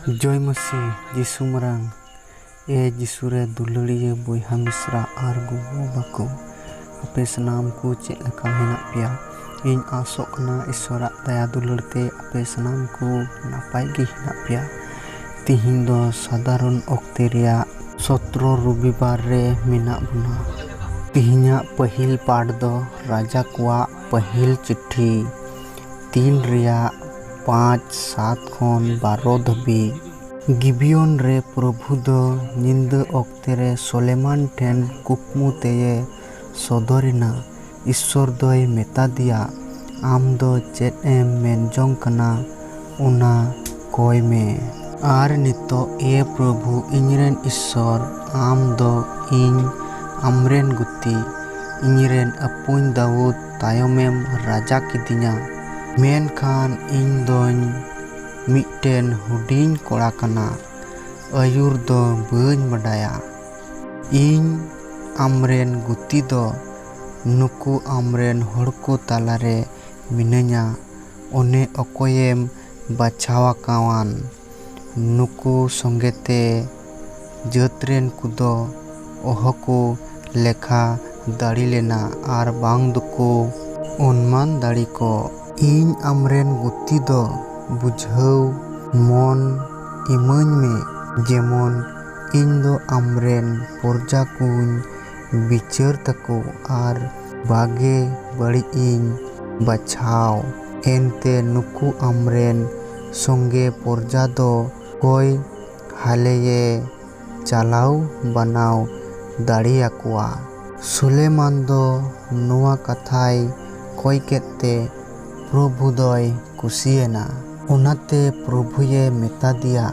ᱡᱚᱭ ᱢᱟᱹᱥᱤ ᱡᱤᱥᱩ ᱢᱟᱨᱟᱝ ᱮ ᱡᱤᱥᱩ ᱨᱮ ᱫᱩᱞᱟᱹᱲᱤᱭᱟᱹ ᱵᱚᱭᱦᱟ ᱢᱤᱥᱨᱟ ᱟᱨ ᱜᱚᱜᱚ ᱵᱟᱵᱟ ᱠᱚ ᱟᱯᱮ ᱥᱟᱱᱟᱢ ᱠᱚ ᱪᱮᱫ ᱞᱮᱠᱟ ᱢᱮᱱᱟᱜ ᱯᱮᱭᱟ ᱤᱧ ᱟᱥᱚᱜ ᱠᱟᱱᱟ ᱤᱥᱚᱨᱟᱜ ᱫᱟᱭᱟ ᱫᱩᱞᱟᱹᱲ ᱛᱮ ᱟᱯᱮ ᱥᱟᱱᱟᱢ ᱠᱚ ᱱᱟᱯᱟᱭ ᱜᱮ ᱦᱮᱱᱟᱜ ᱯᱮᱭᱟ ᱛᱤᱦᱤᱧ ᱫᱚ ᱥᱟᱫᱷᱟᱨᱚᱱ ᱚᱠᱛᱮ ᱨᱮᱭᱟᱜ ᱥᱚᱛᱨᱚ ᱨᱚᱵᱤᱵᱟᱨ ᱨᱮ ᱢᱮᱱᱟᱜ ᱵᱚᱱᱟ ᱛᱤᱦᱤᱧᱟᱜ ᱯᱟᱹᱦᱤᱞ ᱯᱟᱴ ᱫᱚ ᱨᱟᱡᱟ ᱠᱚᱣᱟᱜ ᱯᱟᱹᱦᱤᱞ ᱪᱤᱴᱷᱤ ᱛᱤᱱ ᱨᱮᱭᱟᱜ ᱯᱟᱸᱪ ᱥᱟᱛ ᱠᱷᱚᱱ ᱵᱟᱨᱚ ᱫᱷᱟᱹᱵᱤᱡ᱾ ᱜᱤᱵᱤᱭᱚᱱ ᱨᱮ ᱯᱨᱚᱵᱷᱩ ᱫᱚ ᱧᱤᱫᱟᱹ ᱚᱠᱛᱮ ᱨᱮ ᱥᱚᱞᱮᱢᱟᱱ ᱴᱷᱮᱱ ᱠᱩᱠᱢᱩ ᱛᱮᱭᱮ ᱥᱚᱫᱚᱨ ᱮᱱᱟ᱾ ᱤᱥᱥᱚᱨ ᱫᱚᱭ ᱢᱮᱛᱟᱫᱮᱭᱟ, ᱟᱢ ᱫᱚ ᱪᱮᱫ ᱮᱢ ᱢᱮᱱ ᱡᱚᱝ ᱠᱟᱱᱟ ᱚᱱᱟ ᱠᱚᱭ ᱢᱮ᱾ ᱟᱨ ᱱᱤᱛᱚᱜ ᱮ ᱯᱨᱚᱵᱷᱩ ᱤᱧᱨᱮᱱ ᱤᱥᱥᱚᱨ, ᱟᱢ ᱫᱚ ᱤᱧ ᱟᱢᱨᱮᱱ ᱜᱩᱛᱤ, ᱤᱧᱨᱮᱱ ᱟᱹᱯᱩᱧ ᱫᱟᱣᱩᱫᱽ ᱛᱟᱭᱚᱢᱮᱢ ᱨᱟᱡᱟ ᱠᱤᱫᱤᱧᱟ᱾ ᱢᱮᱱᱠᱷᱟᱱ ᱤᱧ ᱫᱚᱧ ᱢᱤᱫᱴᱮᱱ ᱦᱩᱰᱤᱧ ᱠᱚᱲᱟ ᱠᱟᱱᱟ, ᱟᱹᱭᱩᱨ ᱫᱚ ᱵᱟᱹᱧ ᱵᱟᱰᱟᱭᱟ᱾ ᱤᱧ ᱟᱢᱨᱮᱱ ᱜᱩᱛᱤ ᱫᱚ ᱱᱩᱠᱩ ᱟᱢᱨᱮᱱ ᱦᱚᱲᱠᱚ ᱛᱟᱞᱟᱨᱮ ᱢᱤᱱᱟᱹᱧᱟ, ᱚᱱᱮ ᱚᱠᱚᱭᱮᱢ ᱵᱟᱪᱷᱟᱣᱟᱠᱟᱣᱟᱱ᱾ ᱱᱩᱠᱩ ᱥᱚᱸᱜᱮ ᱛᱮ ᱡᱟᱹᱛ ᱨᱮᱱ ᱠᱚᱫᱚ ᱚᱦᱚ ᱠᱚ ᱞᱮᱠᱷᱟ ᱫᱟᱲᱮ ᱞᱮᱱᱟ ᱟᱨ ᱵᱟᱝ ᱫᱚᱠᱚ ᱚᱱᱢᱟᱱ ᱫᱟᱲᱮ ᱠᱚᱜ᱾ ᱤᱧ ᱟᱢᱨᱮᱱ ᱜᱩᱛᱤ ᱫᱚ ᱵᱩᱡᱷᱟᱹᱣ ᱢᱚᱱ ᱤᱢᱟᱹᱧ ᱢᱮ ᱡᱮᱢᱚᱱ ᱤᱧ ᱫᱚ ᱟᱢᱨᱮᱱ ᱯᱚᱨᱡᱟ ᱠᱚᱧ ᱵᱤᱪᱟᱹᱨ ᱛᱟᱠᱚ ᱟᱨ ᱵᱟᱜᱮ ᱵᱟᱹᱲᱤᱡ ᱤᱧ ᱵᱟᱪᱷᱟᱣ᱾ ᱮᱱᱛᱮ ᱱᱩᱠᱩ ᱟᱢᱨᱮᱱ ᱥᱚᱝᱜᱮ ᱯᱚᱨᱡᱟ ᱫᱚ ᱠᱚᱭ ᱦᱟᱞᱮᱭᱮ ᱪᱟᱞᱟᱣ ᱵᱟᱱᱟᱣ ᱫᱟᱲᱮ ᱟᱠᱚᱣᱟ᱾ ᱥᱩᱞᱮᱭᱢᱟᱱ ᱫᱚ ᱱᱚᱣᱟ ᱠᱟᱛᱷᱟᱭ ᱠᱚᱭ ᱠᱮᱫ ᱛᱮ ᱯᱨᱚᱵᱷᱩ ᱫᱚᱭ ᱠᱩᱥᱤᱭᱮᱱᱟ᱾ ᱚᱱᱟᱛᱮ ᱯᱨᱚᱵᱷᱩᱭᱮ ᱢᱮᱛᱟᱫᱮᱭᱟ,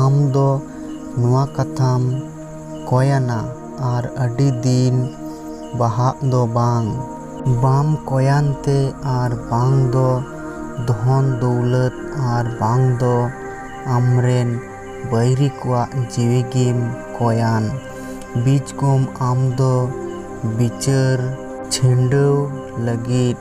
ᱟᱢ ᱫᱚ ᱱᱚᱶᱟ ᱠᱟᱛᱷᱟᱢ ᱠᱚᱭᱟᱱᱟ ᱟᱨ ᱟᱹᱰᱤ ᱫᱤᱱ ᱵᱟᱦᱟᱜ ᱫᱚ ᱵᱟᱝ᱾ ᱵᱟᱢ ᱠᱚᱭᱟᱱ ᱛᱮ ᱟᱨ ᱵᱟᱝ ᱫᱚ ᱫᱷᱚᱱ ᱫᱩᱣᱞᱟᱹᱛ ᱟᱨ ᱵᱟᱝ ᱫᱚ ᱟᱢᱨᱮᱱ ᱵᱟᱹᱭᱨᱤ ᱠᱚᱣᱟᱜ ᱡᱤᱣᱤ ᱜᱮᱢ ᱠᱚᱭᱟᱱ᱾ ᱵᱤᱡᱽ ᱠᱚᱢ ᱟᱢ ᱫᱚ ᱵᱤᱪᱟᱹᱨ᱾ ᱪᱷᱤᱸᱰᱟᱹᱣ ᱞᱟᱹᱜᱤᱫ᱾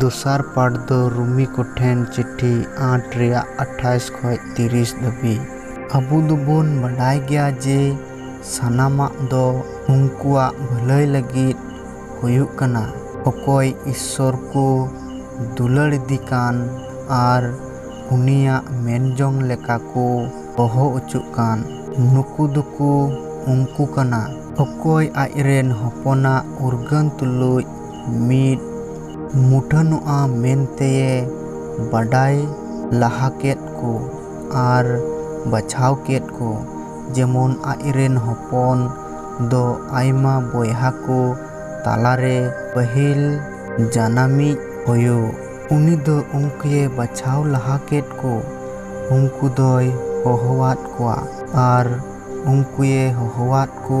ᱫᱚᱥᱟᱨ ᱯᱟᱴ ᱫᱚ ᱨᱩᱢᱤ ᱠᱚ ᱴᱷᱮᱱ ᱪᱤᱴᱷᱤ ᱟᱴ ᱨᱮᱭᱟᱜ ᱟᱴᱷᱟᱭᱤᱥ ᱠᱷᱚᱱ ᱛᱤᱨᱤᱥ ᱫᱷᱟᱹᱵᱤᱡ᱾ ᱟᱵᱚ ᱫᱚᱵᱚᱱ ᱵᱟᱰᱟᱭ ᱜᱮᱭᱟ ᱡᱮ ᱥᱟᱱᱟᱢᱟᱜ ᱫᱚ ᱩᱱᱠᱩᱣᱟᱜ ᱵᱷᱟᱹᱞᱟᱹᱭ ᱞᱟᱹᱜᱤᱫ ᱦᱩᱭᱩᱜ ᱠᱟᱱᱟ᱾ ᱚᱠᱚᱭ ᱤᱥᱥᱚᱨ ᱠᱚ ᱫᱩᱞᱟᱹᱲ ᱤᱫᱤ ᱠᱟᱱ ᱟᱨ ᱩᱱᱤᱭᱟᱜ ᱢᱮᱱ ᱡᱚᱝ ᱞᱮᱠᱟ ᱠᱚ ᱦᱚᱦᱚ ᱚᱪᱚᱜ ᱠᱟᱱ, ᱱᱩᱠᱩ ᱫᱚᱠᱚ ᱩᱱᱠᱩ ᱠᱟᱱᱟ᱾ ᱚᱠᱚᱭ ᱟᱡ ᱨᱮᱱ ᱦᱚᱯᱚᱱᱟᱜ ᱩᱨᱜᱟᱹᱱ ᱛᱩᱞᱩᱡ ᱢᱤᱫ ᱢᱩᱴᱷᱟᱹᱱᱚᱜᱼᱟ ᱢᱮᱱᱛᱮᱭᱮ ᱵᱟᱰᱟᱭ ᱞᱟᱦᱟ ᱠᱮᱫ ᱠᱚ ᱟᱨ ᱵᱟᱪᱷᱟᱣ ᱠᱮᱫ ᱠᱚ ᱡᱮᱢᱚᱱ ᱟᱡ ᱨᱮᱱ ᱦᱚᱯᱚᱱ ᱫᱚ ᱟᱭᱢᱟ ᱵᱚᱭᱦᱟ ᱠᱚ ᱛᱟᱞᱟ ᱨᱮ ᱯᱟᱹᱦᱤᱞ ᱡᱟᱱᱟᱢᱤᱡ ᱦᱳᱭᱳᱜ᱾ ᱩᱱᱤ ᱫᱚ ᱩᱱᱠᱩᱭᱮ ᱵᱟᱪᱷᱟᱣ ᱞᱟᱦᱟ ᱠᱮᱫ ᱠᱚ, ᱩᱱᱠᱩ ᱫᱚᱭ ᱦᱚᱦᱚᱣᱟᱫ ᱠᱚᱣᱟ ᱟᱨ ᱩᱱᱠᱩᱭᱮ ᱦᱚᱦᱚᱣᱟᱫ ᱠᱚ᱾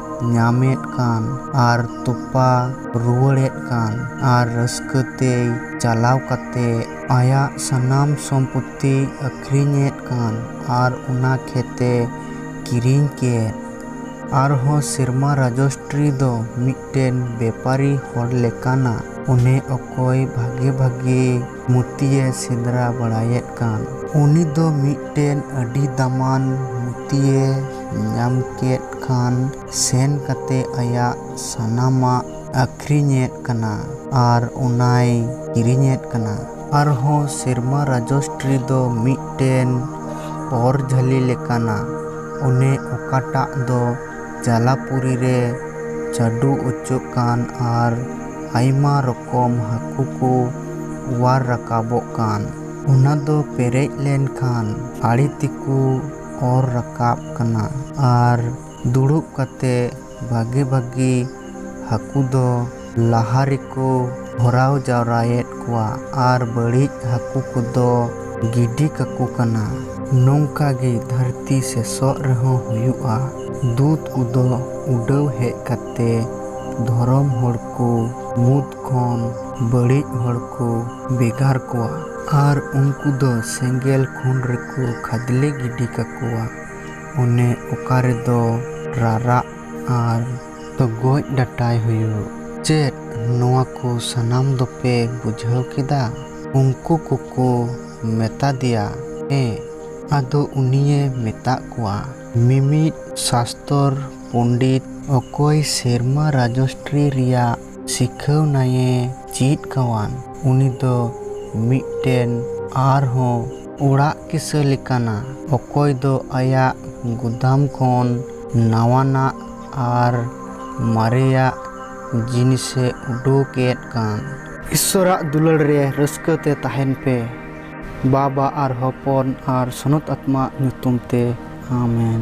ᱧᱟᱢᱮᱫ ᱠᱟᱱ ᱟᱨ ᱛᱚᱯᱟ ᱨᱩᱣᱟᱹᱲᱮᱫ ᱠᱟᱱ ᱟᱨ ᱨᱟᱹᱥᱠᱟᱹ ᱛᱮᱭ ᱪᱟᱞᱟᱣ ᱠᱟᱛᱮ ᱟᱭᱟᱜ ᱥᱟᱱᱟᱢ ᱥᱚᱢᱯᱚᱛᱛᱤᱭ ᱟᱹᱠᱷᱨᱤᱧᱮᱫ ᱠᱟᱱ ᱟᱨ ᱚᱱᱟ ᱠᱷᱮᱛᱮ ᱠᱤᱨᱤᱧ ᱠᱮᱫ᱾ ᱟᱨᱦᱚᱸ ᱥᱮᱨᱢᱟ ᱨᱟᱡᱚᱥᱴᱨᱤ ᱫᱚ ᱢᱤᱫᱴᱮᱱ ᱵᱮᱯᱟᱨᱤ ᱦᱚᱲ ᱞᱮᱠᱟᱱᱟ᱾ ᱚᱱᱮ ᱚᱠᱚᱭ ᱵᱷᱟᱜᱮ ᱵᱷᱟᱜᱮ᱾ ᱢᱩᱛᱤᱭᱮ ᱥᱮᱸᱫᱽᱨᱟ ᱵᱟᱲᱟᱭᱮᱫ ᱠᱟᱱ᱾ ᱩᱱᱤ ᱫᱚ ᱢᱤᱫᱴᱮᱱ ᱟᱹᱰᱤ ᱫᱟᱢᱟᱱ ᱢᱩᱛᱤᱭᱮ ᱧᱟᱢ ᱠᱮᱫ ᱠᱷᱟᱱ ᱥᱮᱱ ᱠᱟᱛᱮ ᱟᱭᱟᱜ ᱥᱟᱱᱟᱢᱟᱜ ᱟᱹᱠᱷᱨᱤᱧᱮᱫ ᱠᱟᱱᱟ ᱟᱨ ᱚᱱᱟᱭ ᱠᱤᱨᱤᱧᱮᱫ ᱠᱟᱱᱟ᱾ ᱟᱨᱦᱚᱸ ᱥᱮᱨᱢᱟ ᱨᱟᱡᱚᱥᱴᱨᱤ ᱫᱚ ᱢᱤᱫᱴᱮᱱ ᱚᱨ ᱡᱷᱟᱹᱞᱤ ᱞᱮᱠᱟᱱᱟ᱾ ᱚᱱᱮ ᱚᱠᱟᱴᱟᱜ ᱫᱚ᱾ ᱡᱟᱞᱟᱯᱩᱨᱤ ᱨᱮ ᱪᱟᱰᱚ ᱚᱪᱚᱜ ᱠᱟᱱ ᱟᱨ ᱟᱭᱢᱟ ᱨᱚᱠᱚᱢ ᱦᱟᱹᱠᱩ ᱠᱚ ᱚᱣᱟᱨ ᱨᱟᱠᱟᱵᱚᱜ ᱠᱟᱱ᱾ ᱚᱱᱟ ᱫᱚ ᱯᱮᱨᱮᱡ ᱞᱮᱱ ᱠᱷᱟᱱ ᱟᱲᱮ ᱛᱮᱠᱚ ᱚᱨ ᱨᱟᱠᱟᱵ ᱠᱟᱱᱟ ᱟᱨ ᱫᱩᱲᱩᱵ ᱠᱟᱛᱮ ᱵᱷᱟᱜᱮ ᱵᱷᱟᱜᱮ ᱦᱟᱹᱠᱩ ᱫᱚ ᱞᱟᱦᱟ ᱨᱮᱠᱚ ᱵᱷᱚᱨᱟᱣ ᱡᱟᱣᱨᱟᱭᱮᱫ ᱠᱚᱣᱟ ᱟᱨ ᱵᱟᱹᱲᱤᱡ ᱦᱟᱹᱠᱩ ᱠᱚᱫᱚ ᱜᱤᱰᱤ ᱠᱟᱠᱚ ᱠᱟᱱᱟ᱾ ᱱᱚᱝᱠᱟ ᱜᱮ ᱫᱷᱟᱹᱨᱛᱤ ᱥᱮᱥᱚᱜ ᱨᱮᱦᱚᱸ ᱦᱩᱭᱩᱜᱼᱟ᱾ ᱫᱩᱛ ᱠᱚᱫᱚ ᱩᱰᱟᱹᱣ ᱦᱮᱡ ᱠᱟᱛᱮ ᱫᱷᱚᱨᱚᱢ ᱦᱚᱲ ᱠᱚ ᱢᱩᱫᱽ ᱠᱷᱚᱱ ᱵᱟᱹᱲᱤᱡ ᱦᱚᱲ ᱠᱚ ᱵᱮᱜᱟᱨ ᱠᱚᱣᱟ ᱟᱨ ᱩᱱᱠᱩ ᱫᱚ ᱥᱮᱸᱜᱮᱞ ᱠᱷᱩᱱ ᱨᱮᱠᱚ ᱠᱷᱟᱫᱽᱞᱮ ᱜᱤᱰᱤ ᱠᱟᱠᱚᱣᱟ ᱚᱱᱮ ᱚᱠᱟ ᱨᱮᱫᱚ ᱨᱟᱨᱟᱜ ᱟᱨ ᱛᱚ ᱜᱚᱡ ᱰᱟᱴᱟᱭ ᱦᱩᱭᱩᱜ᱾ ᱪᱮᱫ ᱱᱚᱣᱟ ᱠᱚ ᱥᱟᱱᱟᱢ ᱫᱚᱯᱮ ᱵᱩᱡᱷᱟᱹᱣ ᱠᱮᱫᱟ? ᱩᱱᱠᱩ ᱠᱚᱠᱚ ᱢᱮᱛᱟᱫᱮᱭᱟ, ᱦᱮᱸ᱾ ᱟᱫᱚ ᱩᱱᱤᱭᱮ ᱢᱮᱛᱟᱜ ᱠᱚᱣᱟ, ᱢᱤᱢᱤᱫ ᱥᱟᱥᱛᱚᱨ ᱯᱚᱱᱰᱤᱛ ᱚᱠᱚᱭ ᱥᱮᱨᱢᱟ ᱨᱟᱡᱚᱥᱴᱨᱤ ᱨᱮᱭᱟᱜ ᱥᱤᱠᱷᱟᱹᱣᱱᱟᱭᱮ ᱪᱤᱫ ᱠᱟᱣᱟᱱ, ᱩᱱᱤ ᱫᱚ ᱢᱤᱫᱴᱮᱱ ᱟᱨᱦᱚᱸ ᱚᱲᱟᱜ ᱠᱤᱥᱟᱹ ᱞᱮᱠᱟᱱᱟ, ᱚᱠᱚᱭ ᱫᱚ ᱟᱭᱟᱜ ᱜᱩᱫᱟᱢ ᱠᱷᱚᱱ ᱱᱟᱣᱟᱱᱟᱜ ᱟᱨ ᱢᱟᱨᱮᱭᱟᱜ ᱡᱤᱱᱤᱥᱮ ᱩᱰᱩᱠ ᱮᱫ ᱠᱟᱱ᱾ ᱤᱥᱥᱚᱨᱟᱜ ᱫᱩᱞᱟᱹᱲ ᱨᱮ ᱨᱟᱹᱥᱠᱟᱹ ᱛᱮ ᱛᱟᱦᱮᱱ ᱯᱮ᱾ ᱵᱟᱵ ᱟᱨ ᱦᱚᱯᱚᱱ ᱟᱨ ᱥᱚᱱᱚᱛ ᱟᱛᱢᱟ ᱟᱜ ᱧᱩᱛᱩᱢ ᱛᱮ ᱟᱢᱮᱱ᱾